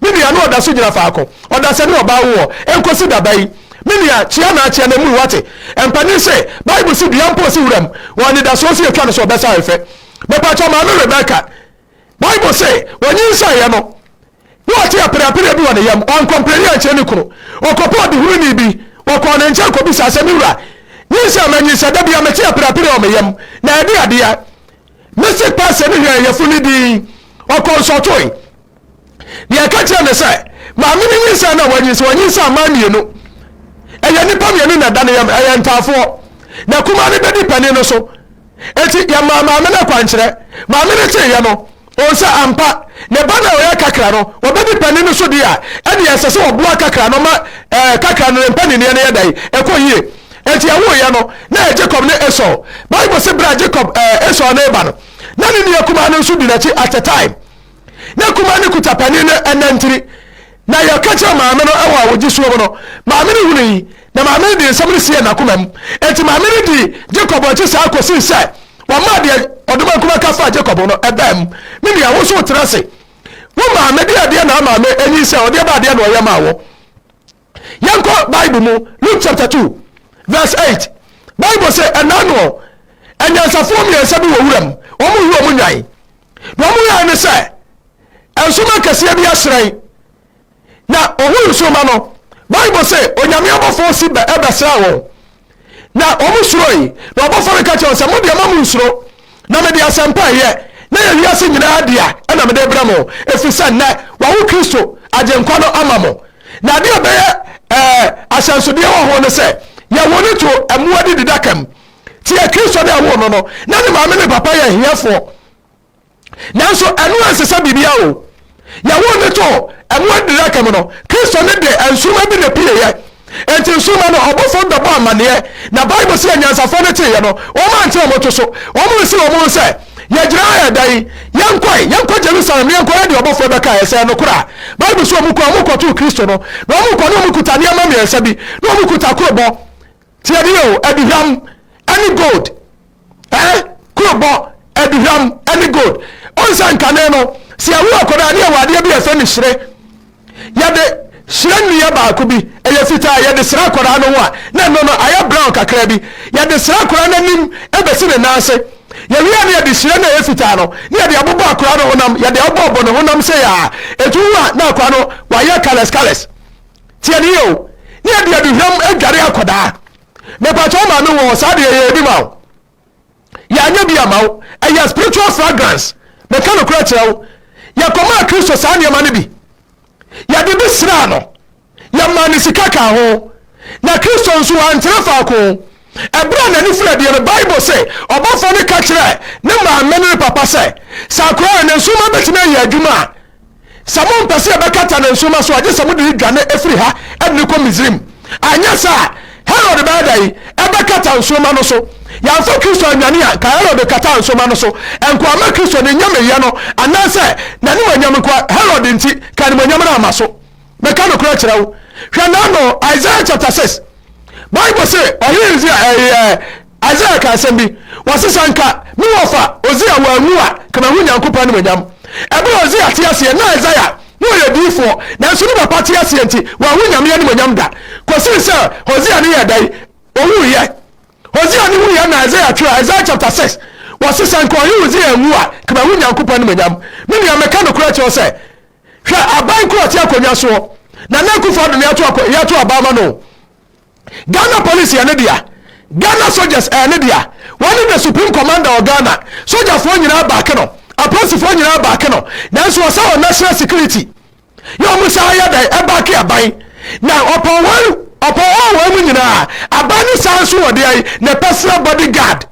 Me nua no ɔda so gyina faako, ɔdasani ɔbaa wo hɔ, ɛnkosi da bɛn? Me nua, kyea na akyea na mui, wate? Mpanin se, Bible se dua mpo si wuram, wɔ anidasoɔ se yɛtwa no so ɔbɛsa ahwɛ. Mepakyɛw, Maame Rebecca, Bible se wɔnyinsɛneɛ no, na ɔte apereapereɛ bi wɔ ne yam, ɔankɔ mprɛnee ankyerɛ ne kunu, ɔkɔpɛ ɔdehununi bi, ɔkɔɔ ne nkyɛn kɔbisaa se, Me wura, nyinsɛn manyinsɛn, da biara mete apereapereɛ wɔ me yam, na ɛde adeɛ, me se pɛsɛ ne hwɛɛ yafunu dinn, ɔkɔɔ nsɔtoe. Deɛ ɛka kyerɛ ne sɛ, maame no nyinsɛn na wanyinsɛn, ɔnyinsɛn mmaa mmienu. Ɛyɛ nnipa mmienu na ɛda ne yam, ɛyɛ ntaafoɔ. Na kumaa no bɛdi panin no so. Eti yɛmaa maame no akwankyerɛ. Maame no teeɛ no, ɔhu sɛ ampa, ne ba no a ɔyɛ kakra no, ɔbɛdi panin no so deɛ a, ɛdeɛ ɛsɛ sɛ ɔboa kakra no ma ɛɛ kakra no ne mpaninneɛ no yɛ dɛn, ɛkɔ yie. Enti ɛwoeɛ no, na ɛyɛ Jacob ne Esau. Bible se berɛ a Jacob ɛɛ Esau reba no, na ne nua kumaa no nso di n'akyi at a time. Na kumaa no kuta panin no nantiri, na yɛka kyerɛɛ maame no wɔ awogye suo mu no, maame no hunui, na maame no de nsɛm no siee n'akoma mu. Enti maame no dii Jacob akyi saa kɔsii sɛ wɔmaa deɛ ɔdomankoma ka faa Jacob ho no baa mu. Me nua, wo nso wotena ase. Wo maame de adeɛ na ama me anyinsɛn, ɔde ba adeɛ na ɔyɛ maa wo. Yɛnkɔ Bible mu, Luke chapter 2, verse 8. Bible se, ɛnna no anyansafoɔ mmiɛnsa bi wɔ wuram, wɔn yɛ wɔn nnwan. Na wɔn yɛe ne sɛ, nsoromma kɛseɛ bi ahyerɛn, na wɔhunu nsoromma no. Bible se, Onyame abɔfoɔ si bɛ ɛbɛsraa wɔn. Na wɔn suroe, na ɔbɔfo no ka kyerɛ wɔn sɛ, Mo deɛ, mma mo nsuro, na mede asɛmpa a ɛyɛ na ɛyɛ wiase nyinaa dea na mede rebrɛ mo, ɛfiri sɛ nnɛ wɔawo Kristo, Agyenkwa no, ama mo. Na adeɛ a ɛbɛyɛ ɛɛ ahyɛnsodeɛ wɔ ho ne sɛ, yɛwoo no too mmoa adididaka mu. Tie, Kristo ne ɛwoo no no, na ne maame ne ne papa yɛ ahiafoɔ. nanso ɛno ansesa biribiara o yɛwoo ne too ɛmo adiraka mu no kristo ne deɛ nsoroma bi na pueeɛ enti nsoroma no ɔbɔfoɔ no bɛbɔ amanneɛ na bible sɛ anyansafoɔ no teeɛ no wɔn ante wɔn to so wɔn nsi wɔn ho sɛ yɛgyina ha ɛda yi yɛnkɔe yɛnkɔ jerusalem na yɛnkɔ yɛde ɔbɔfoɔ bɛka ɛsɛ no koraa bible sɛ wɔn kɔ wɔn kɔtoo kristo no na wɔn kɔ ne wɔn kuta nneɛma mmiɛnsa bi na wɔn kuta korobɔ Tie bi o, aduhwam ne gold. Eh, kurobɔ, aduhwam ne gold. Onsa nkane no, sɛ yɛwo akwadaa ne yɛwɔ adeɛ bi a ɛfɛ ne hyire. Yɛde hyire nnua baako bi, ɛyɛ fitaa, yɛde sra akwadaa no ho a, na ɛno no ayɛ brown kakra bi. Yɛde sra akwadaa no anim bɛsi ne nan ase. Yɛwie ne yɛde hyire no a ɛyɛ fitaa no, ne yɛde abobɔ akwadaa no honam, yɛde abobɔ ne honam sɛ yaa. Ɛtu wu a, na akwadaa no wayɛ colours colours. Tiɛ ne yie o, ne yɛde aduhwam adware akwadaa. Mepakyɛ wo maame wɔ saa deɛ yɛyɛ bi ma wo. Yɛanyɛ bi ama wo, ɛyɛ spiritual fragrance. Meka nokorɛ kyerɛ wo, yɛkɔmaa Kristo saa nneɛma no bi. Yɛde bi sraa no, yɛmaa no sika kaa ho. Na Kristo nso wantena faako. Ɛberɛ a n'ani firi adeɛ no, Bible se ɔbɔfoɔ no ka kyerɛɛ ne maame ne ne papa sɛ, sɛ akoraa ne nsoromma bɛtumi ayɛ adwuma a, Sɛ mompɛ sɛ yɛbɛkata ne nsoromma so a, gye sɛ mode no dwane firi ha de no kɔ Misraim. Anyɛ saa a, Herod bɛyɛ dɛn? Ɛbɛkata nsoromma no so. Yɛamfa Kristo annwane a, anka Herod kataa nsoromma no so. Ɛnko amma Kristo ne nyameyɛ no, anaasɛ n'animuonyam nko ara. Herod nti, anka animuonyam no amma so. Mɛka nokorɛ akyerɛ wo, hwɛ na ano Isaiah chapter six Bible se ɔhene Hesekia ɛɛ eh, Isaiah ka asɛm bi wɔse sɛ nka me wɔfa Ozia wanwu a ka mahu Nyankopɔn animonyam ɛberɛ a Ozia te aseɛ na Isaiah na ɔyɛ diifoɔ nanso ne papa te aseɛ nti wanhu Nyame animonyam da kɔsii sɛ Hosea ne yɛ dɛn ɔwuiɛ Hosea ne wuiɛ na Isaiah twerɛ Isaiah chapter six wɔse sɛ nka ɔhene Hosea anwu a ka mahu Nyankopɔn animonyam me nua mɛka nokorɛ kyerɛ wo sɛ Hwɛ aban koro a ɔte akonnwa soɔ. Nana Akufo-Addo na yɛato akwa yɛato aban ama no o. Ghana Police yɛ ne dea. Ghana Soldiers ɛyɛ ne dea. Wɔne the Supreme Commander wɔ Ghana. Sogyafoɔ nyinaa back no. Apolisifoɔ nyinaa back no. Nanso wɔ sɛ wɔ National Security. Yɛ wɔn saa yɛ dan ɛback aban. Na ɔpɔn wɔn ɔpɔn wɔn wɔn mu nyinaa. Aban ne saa nso wɔ deɛ ne personal bodyguard.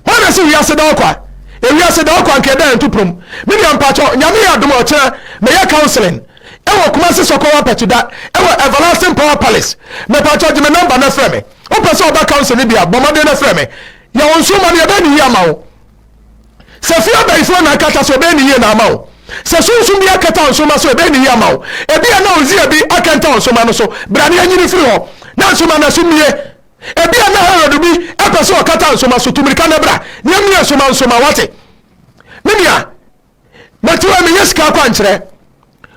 Hwan na se wiase da ɔkwa? Ewiase da ɔkwa nka ɛda antuporom. Me nua mpakyɛw, Nyame yɛ adom a ɔkyena mɛyɛ counseling ɛwɔ Kumasi Sɔkɔ Wampakyi da ɛwɔ Everlasting Power Palace. Mepakyɛw gye me number na frɛ me. Wopɛ sɛ ɔba council no bi a, bɔ mmɔden na frɛ me. Yɛ wo nso ma no yɛbɛyɛ no yie ama wo. Sɛ fie abayifoɔ na akata so ɛbɛyɛ no yie na ama wo. Sɛ sunsum bi akata wo nsoma so ɛbɛyɛ no yie ama wo. Ebia na Uzziah bi akɛntɛn wo nsoma no so. Bra na yɛnyi no firi hɔ na nsoma no aso mmue. Ebia na Herod bi pɛ sɛ ɔkata nsoma so, tu mmirika na bra, na emia nsoma nsoma, wate? Me nua, mɛte wɔ meyɛ sika akwankyerɛ.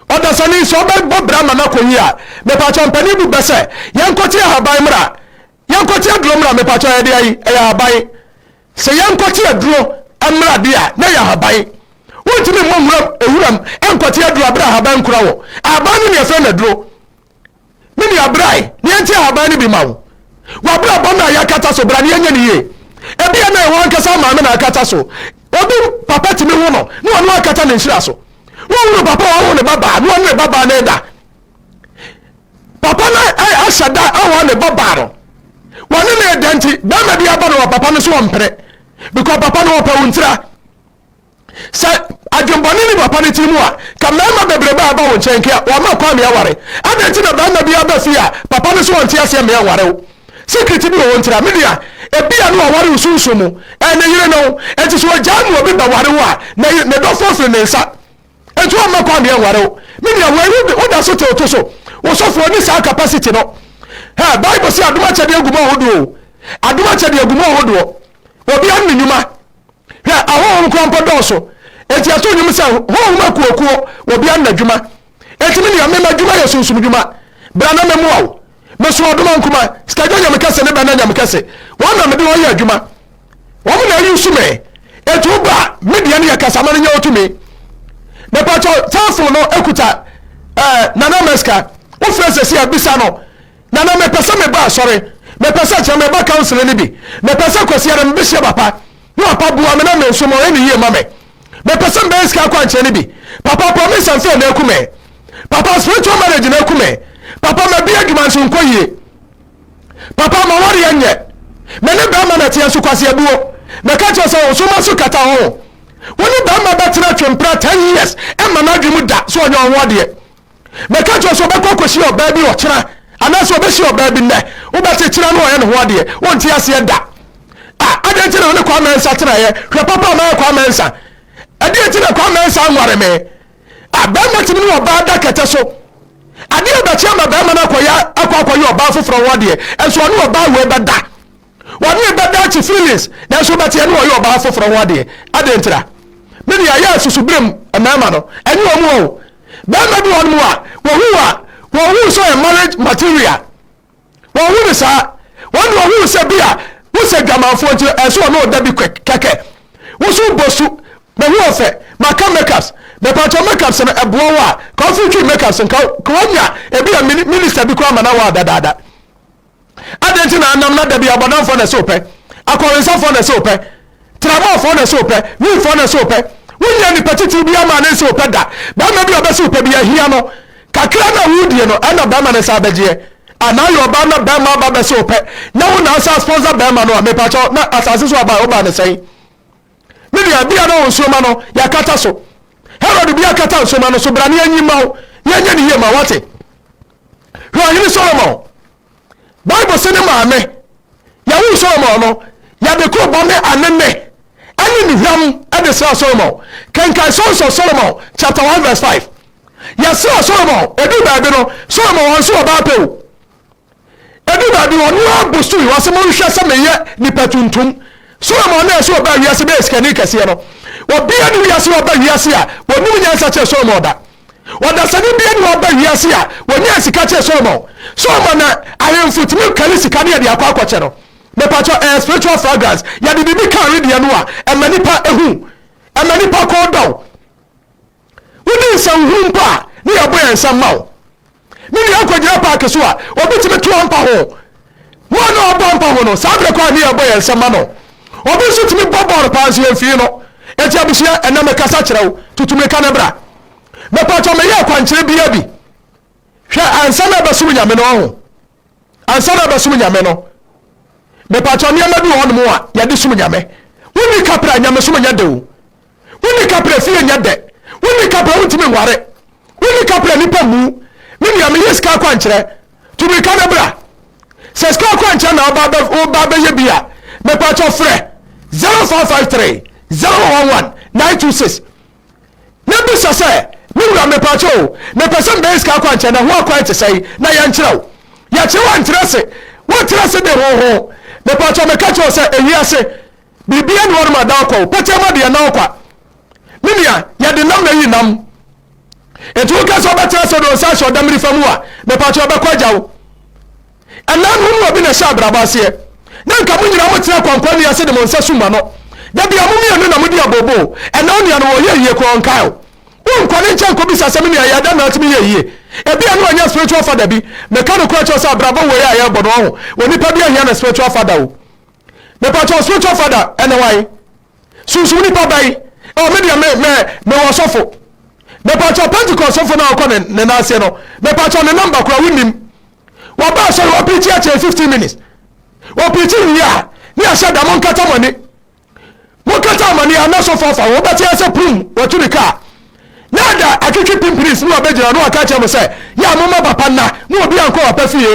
Ɔdasani, sɛ ɔbɛbɔ bra ma no akɔ yie a, mepakyɛ mpanin bu bɛ sɛ, yɛnkɔte ahaban mmra, yɛnkɔte aduro mmra, mepakyɛ ɛyɛ deɛ yi, ɛyɛ ahaban. Sɛ yɛnkɔte aduro mmra deɛ a, na ɛyɛ ahaban. Wontumi mmɔ nwuram, ewuram, nkɔte aduro abere ahaban nkura wɔ. Ahaban no ne ɛfɛ na aduro. Me nua, bra ɛ na yɛnte ahaban no bi mma wo. W'abrabɔ no a yɛakata so, bra na yɛnyɛ no yie. Ebia na ɛwɔ ankasa maame na akata so. Obi papa tumi wo no na ɔno akata ne nhyira so. Wohunu papa a ɔwo ne babaa na ɔne ne babaa no ɛda. Papa no ahyɛ da awa ne babaa no. Wɔne ne ɛda nti, bɛrima bi aba no wɔ papa no so ɔmpere. Because papa no ɔpɛ wo ntira. Sɛ adwembɔne ne papa no tirim a, ka mmarima bebrebe a ɛba wo nkyɛn nka wɔama kwan ma yɛaware. Adɛn nti na barima biara ba fie a papa no se ɔnte aseɛ mmea nware wo? Sikiriti bi wɔ hɔ nti a? Me nua, ebia na waware wo sunsum mu. Ɛyɛ ne yere no. Enti sɛ ɔgyae ma obi bɛware wo a, na ne dɔfoɔ firi ne nsa. Enti wamma kwan ma yɛnware wo. Me nua, wei woda so te wo to so. Wo sɔfoɔ nni saa capacity no. Hɛ, Bible se adom akyɛdeɛ gu mu ahodoɔ o. Adom akyɛdeɛ gu mu ahodoɔ. Obiara ne ne nnwuma. Hwɛ, ahonhom koraa mpo dɔɔso. Enti ɛtoo nnwom sɛ, Honhom akuokuo, obiara ne n'adwuma. Enti me nua, me m'adwuma yɛ sunsumdwuma. Bra na mɛmoa wo. Meso ɔdoma nkuma, sikadwa nyamekɛse ne bɛnna nyamekɛse. Wɔn na mede wɔn yɛ adwuma. Wɔn na ayusu me. Enti wo ba, me deɛ no yɛ kasa ma no nyɛ wo tumi. Mepatɔ, telephone no ekuta eh, Nana Meska. Wofrɛ sɛsi a, bisa no. Nana mepɛ sɛ meba asɔre, mepɛ sɛ kyerɛ meba counseling no bi, mepɛ sɛ Kwasiada mebehyia papa na papa boa me na me nso ma ɔyɛ no yie ma me. Mepɛ sɛ mebɛyɛ sika akwankyerɛ no bi, papa promise and fail no aku me, papa spiritual marriage no aku me, papa mabie adwuma nso nkɔ yie, papa mawareɛ nyɛ, me ne bɛrima na teɛ nso Kwasi abuo, meka kyerɛ sɛ ɔnso ma so kata ho. Wo ne bɛrima bɛtena twempra 10 years ɛmma n'adwene mu da sɛ ɔnyɛ ɔho adeɛ. Mɛka kyerɛ sɛ ɔbɛkɔ akɔhyia ɔbaa bi ɔkyena anaasɛ ɔbɛhyia ɔbaa bi nnɛ wobɛte kyena no ɔyɛ ne ho adeɛ wonte aseɛ da a adɛn nti na ɔne kwa mɛnsa tenaeɛ hwɛ papa a mayɛ kwa mɛnsa ɛdeɛ nti na kwa mɛnsa nware me a bɛrima tumi ne ɔbaa da kɛtɛ so adeɛ bɛkyɛ ma bɛrima no akɔyɛ akɔ akɔyɛ ɔbaa foforɔ ho adeɛ ɛnso ɔne ɔbaa wei bɛda Wɔne me bɛda akyi feelings nanso wobɛteɛ ne wɔyɛ ɔbaa foforɔ ho adeɛ adɛn ntira? Me deɛ ayɛ asusu berɛ mu mmarima no ɛnyɛ wɔn wɔ o barima bi wɔ hɔnom a wɔhu a wɔn hu sɛ ɔyɛ marriage material wɔn hu ne saa wɔn de wɔn hu sɛ bi a wosɛ dwamanfoɔ nti ɛnso wɔn ɔda bi kwɛk kɛkɛ woso bɔ su mahu ɔfɛ maka makeups mepatɔ makeups no ɛboa wɔ a ka ɔfiri twi makeups nka ka wɔnya ebi a minister bi kora ma na wɔ adadaada Adɛn nti na anam na da bi abɔdamfoɔ na ɛsɛ wopɛ? Akɔwensafoɔ na ɛsɛ wopɛ? Tramɔfoɔ na ɛsɛ wopɛ? Wimfoɔ na ɛsɛ wopɛ? Wonyɛ nipa titiriw biara maa no nsi wo pɛ da. Barima bi a ɔbɛsi wo pɛ biara, hia no. Kakra no a wodie no, ɛna barima no nsa abɛgyeɛ. Anaa yɛ ɔbaa na barima aba abɛsi wo pɛ, na wo na asan sponsor barima no a, mepakyɛw, na asase so aba a wobaa no sɛn? Me nua, bia na wo nsoroma no, yɛakata so. Herod bia kata nsoroma no so, bra na yɛnyi mma wo, na yɛnyɛ no yie ma wo, wate? Hwɛ Ɔhene Solomon. Bible se ne maame yɛwoo Solomon no, yɛde kurobo ne anene ne nnuhwam de sraa Solomon. Kenkan Songs of Solomon chapter 1 verse 5. Yɛsraa Solomon, ɛduu baabi no, Solomon ɔnso ɔbaa pɛ o. Ɛduu baabi ɔno ara bosui, ɔse monhwɛ sɛ meyɛ nipa tuntum. Solomon na ɛsɛ ɔbaa wiase bɛyɛ sikani kɛseɛ no. Obiara ne wiase ɔba wiase a, wɔnim nyansa kyerɛ Solomon da. Ɔdasani bia ne ɔba wiase a wɔnyaa sika kyɛɛ Solomon. Solomon na ahemfo tumi kari sika ne yɛde akɔ akɔkyɛ no. Mepakyɛw ɛyɛ spiritual fragrance. Yɛde biribi ka wedeɛ no a ɛma nipa hu. Ɛma nipa kɔn dɔ wo. Wodi nsɛnhunu mpo a ne yɛbɔ yɛn nsam ma wo. Me nua nkogyina park so a obi tumi to ampa ho Mo a na ɔbɔ ampa ho no saa berɛ kɔ a ne yɛbɔ yɛn nsɛm ma no Obi nso tumi bɔ bɔɔl paa nso yɛmfii no Enti abusua ɛnɛ mekasa kyerɛ wo tutu mirika na bra Mepakyɛ meyɛ akwankyerɛ biaa bi Hwɛ ansa na ɛbɛsom nyame no ɔho Ansa na ɛbɛsom nyame no Mepakyɛ nneɛma bi wɔ hɔ nom a yɛde som nyame Wonni kapra nyamesom nyɛ dɛ o Wo ne kapra fie nyɛ dɛ Wo ne kapra wontumi nware Wo ne kapra nipa mmu Me nua meyɛ sika akwankyerɛ Tu mirika na bra Sɛ sika akwankyerɛ na woba bɛyɛ bi a Mepakyɛ frɛ 0553 011 926 Na bisa sɛ Me wura mepakyɛ o Mepɛ sɛ mebɛyɛ sika akwankyerɛ na ho akwan te sɛn na yɛnkyerɛ wo Yɛkyerɛ wo ankyerɛ se Wotra se de ho ho Mepakyɛ meka kyerɛ wo sɛ ewiase Biribiara nni hɔnom a ɛda ɔkwa o, pɛkyɛma deɛ na ɔkwa. Me nua, yɛde nam na ayi nam. Nti woka sɛ wobɛtena sɛ ɔde nsa ahyɛ ɔdamirifa mu a, mepakyɛ ɔbɛkɔ agya wo. Ɛnan ho mu obi na ɛhyɛ abrabɔ aseɛ. Na nka mo nyinaa motena kwankwa nua ase de mo nsa sum ano. Da bia mo mmienu na modi abooboo. Ɛnan nua no ɔyɛ yie koraa ɔnkae o. Wonkɔ ne nkyɛn nkɔbisa sɛ me nua yɛɛ dɛn na atumi yɛ yie. Ebia na wanya spiritual father bi. Meka nokorɛ kyerɛ wo sɛ abrabɔ wei a yɛrebɔ no ɔho, onipa bi ahia ne spiritual father o. Mepakyɛw spiritual father ɛne wan? Sunsum nipa bɛn? Oh me deɛ me me me wɔ sɔfo. Mepakyɛw pentecost sɔfo na ɔkɔ ne ne nan ase no mepakyɛw ne number kura wo nim. Wɔba asɔre wɔ preachi akyɛ 15 minutes. Wɔ preachi wie a ne yɛhyɛ da mo nkata mo ani. Mokata amane a na so fa fa ho wobɛte ase pum watu ne kaa na ada atwetwe pimpini sini wabɛgyina na waka akyerɛ mo sɛ yɛ a momma bapa nna na obi ankɔ bapa fie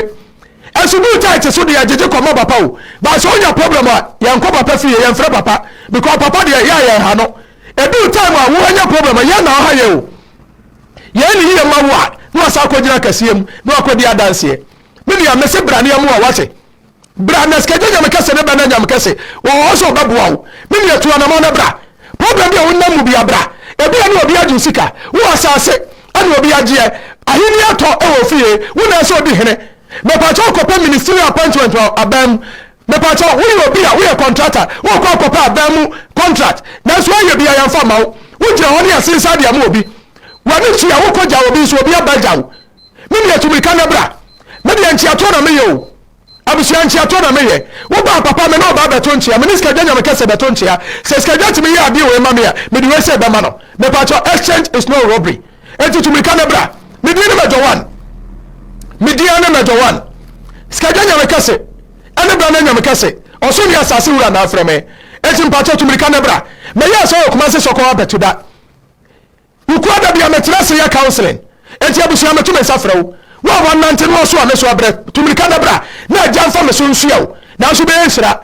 ɛso duu tight so deɛ gyegye kɔma bapa o ba sɛ onya problem a yɛnkɔ bapa fie yɛmfrɛ papa because papa deɛ yɛ a yɛn ha no ɛduu time a wo anya problem a yɛn na ɔha yɛ o yɛn ne yie ma wo a na wasa akɔgyina kɛseɛ mu na wakɔdi adanseɛ me nua mese braneɛ mu a wate bra na sikagya nyame kɛse ne bɛ na nyame kɛse wɔ hɔ sɛ ɔbɛboa wo me nua tu anamɔ na bra problem bi a wonam mu bia bra ebi a ne obi agye sika wo asase ɛna obi agyeɛ ahenni atɔ ɛwɔ fie wo na ɛsɛ odi hene mepatwa wokɔpɛ ministry appointment wɔ abɛn mu mepatwa woyɛ obi a woyɛ contractor wokɔ akɔpɛ abɛn mu contract nanso ayɛ bi a yɛmfa ma wo wogyina hɔ ne asensa de ama obi w'ani tua wokɔgya obi nso obi abɛgya wo Me deɛ tu mirika na bra. Me deɛ nkyeatoɔ na meyɛ o. Abusua nkyeatoɔ na meyɛ. Wo baa papa me ne ɔbaa bɛto nkyea. Me ne sikadwa nyame kɛse bɛto nkyea. Sɛ sikadwa tumi yɛ adeɛ wei ma me a, mede wei sei bɛma no. Mepakyɛw exchange is no robbery. Enti tu mirika na bra. Me din ne Major One. Me din ne Major One. Sikadwa nyame kɛse ɛne bra na nyame kɛse. Ɔsoro ne asase wura na afrɛ me. Enti mepakyɛw tu mirika na bra. Mɛyɛɛ sɛ ɔyɛ Kumasi sɔkɔ abɛto da. Wo kura da bi a metra ase yɛ counseling enti abusua meto me nsa frɛ wo wo a w'anante no ɔso a me so abrɛ tu mirika na bra na agya nfa me so nsua wo nanso bɛyɛ nhyira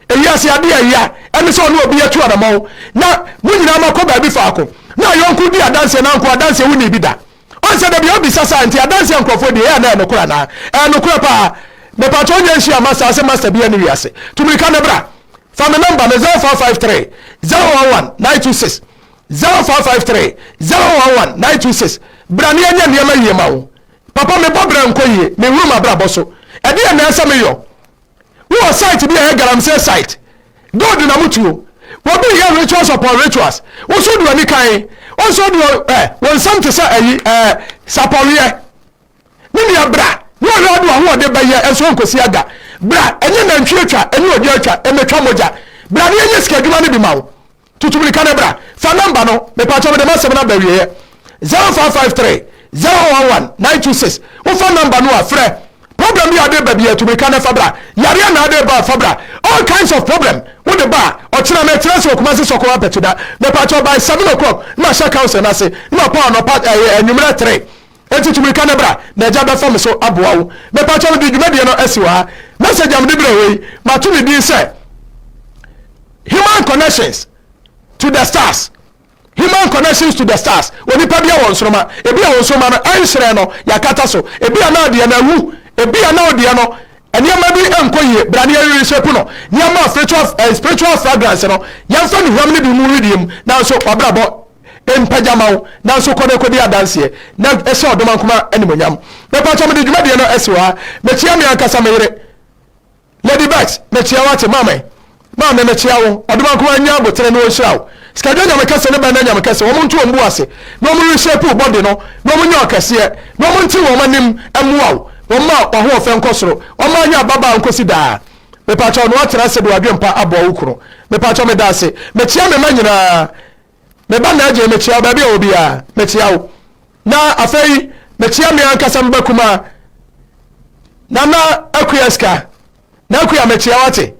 ewiase ade a ɛya ɛne sɛ ɔne obi atu anamɔn na mo nyinaa mo akɔ baabi faako na ayɔnko di adanseɛ na nko adanseɛ wo ni bi da ɔnsɛ da bi obi sa saa nti adanseɛ nkurɔfoɔ di ɛyɛ anaa ɛnokora anaa ɛnokora paa mepatɔ ɔnyɛ nhyia ma saa sɛ master bi ɛne wiase tu mirika na bra fa me namba no 0553 011 926 Zero five five three zero one one nine two six Bra ne yɛnyɛ nneɛma yie ma wo Papa mebɔ bra nkɔ yie Mehuru m'abrabɔ so Ɛdeɛn na ɛsɛ meyɔ Wowɔ site bi a ɛyɛ galamsey site Gold na mo tuo Wɔbi reyɛ rituals upon rituals Wo so wode w'ani kan Wo nso wode wɔ eh, Wo nsɛm te sɛ ayi eh, sapɔweɛ Me nua bra Ne ɔyɛ ɔde w'ahoɔden bɛyɛ Ɛnso ɔnkɔsi aga Bra ɛnyɛ nantwie twa Ɛnyɛ odwa twa Ɛmɛtwa mogya Bra ne yɛnyɛ sika adwuma no bi ma wo Tutu mirika no bra. Fa number no mepatwɔ mede masɛm no aba awieɛ 0553 011 926 wofa number no a frɛ problem bi a ade ba biaa tu mirika na fa bra yareɛ na ade ba a fa bra all kinds of problem wode ba a ɔkyena mekyena se wɔ Kumasi Sɔkɔ Ampatuda mepatwɔ by 7 o'clock na mahyɛ council no ase na ɔpa anɔpa ɛɛ anwummerɛ 3 Enti tu mmirika na bra, na agya bɛfa me so aboa wo. Mepakyɛw mede dwumadie no asi wɔ ha. Message a mede brɛɛ wo yi, mato ne din sɛ Human Connections to the Stars. Human Connections to the Stars. Onipa bia wɔ nsoroma. Ebi a wɔ nsoroma no ɛnhyerɛn no, yɛakata so. Ebi a na adeɛ no awu. Ebi a na ɔdeɛ no nneɛma bi nkɔ yie. Bra na yɛreshape no. Nneɛma a spiritual, eh, spiritual fragrance no, yɛmfa nnuhwam no bi mu rediam, nanso wabrabɔ mpa gya ma wo nanso kɔ na kɔdi adanseɛ na hyɛ ɔdomankoma animonyam mepatɔ mede dwumadie no ɛsi hɔ ha mekyea me ankasa me yere lady bex mekyea wo ate maame maame mekyea wo ɔdomankoma nya abotere na ɔnhyira wo sikadwa nyame kɛse ne bɛnda nyame kɛse wɔn nto wɔn bu ase na wɔn rehyɛpu bɔde no na wɔn nyɛ ɔkɛseɛ na wɔn nte wɔn anim mmoa wo wɔn ma ɔhoɔfɛ nkɔ soro wɔn ma anya ababaa nkɔsi daa mepatɔ na wɔatena ase de wadwempa aboa wo kunu mepatɔ meda ase mekyea me ma nyinaa Me ba Nigel, mekyea wo baabi a ɔwɔ biara. Mekyea wo. Na afei, mekyea me ankasa me ba kumaa, Nana Akua Sika. Na Akua, mekyea wo ate.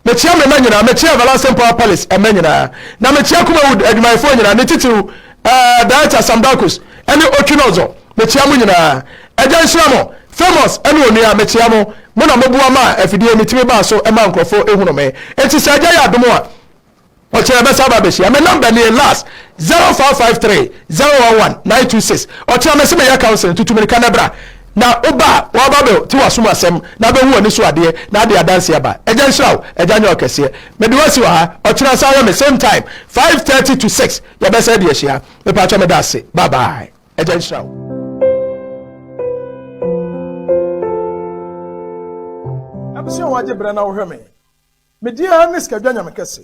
Mekyea me mma nyinaa. Mekyea Everlasting Power Palace mma nyinaa. Na mekyea Kumawood adwumayɛfoɔ nyinaa, ne titiriw eh, Director Sam Darkus ne Otwinozor. Mekyea mo nyinaa. Agya nhyira mo. Famous ne onua, mekyea mo. Mo na moboa maa afidie metumi baa so maa nkurɔfoɔ ehunu me. Enti sɛ agya yɛ adom a, Ɔkyena mɛsan aba abɛhyia. Me number nie last zero five five three zero one one nine two six Ɔkyena mese meyɛ counseling tutu mirika na bra na woba a waba bɛ te wasom asɛm na bɛhu wani so adeɛ na ade adanse aba Agya nhyira wo Agya nyɛ ɔkɛseɛ mede wo asi wɔ ha Ɔkyena san yɛ me same time five thirty to six yɛbɛsan de ahyia mepakyɛ meda ase bye bye. agya nhyira wo abusua wɔagye berɛ na wohwɛ me medeɛ ne sikadwa nyame kɛse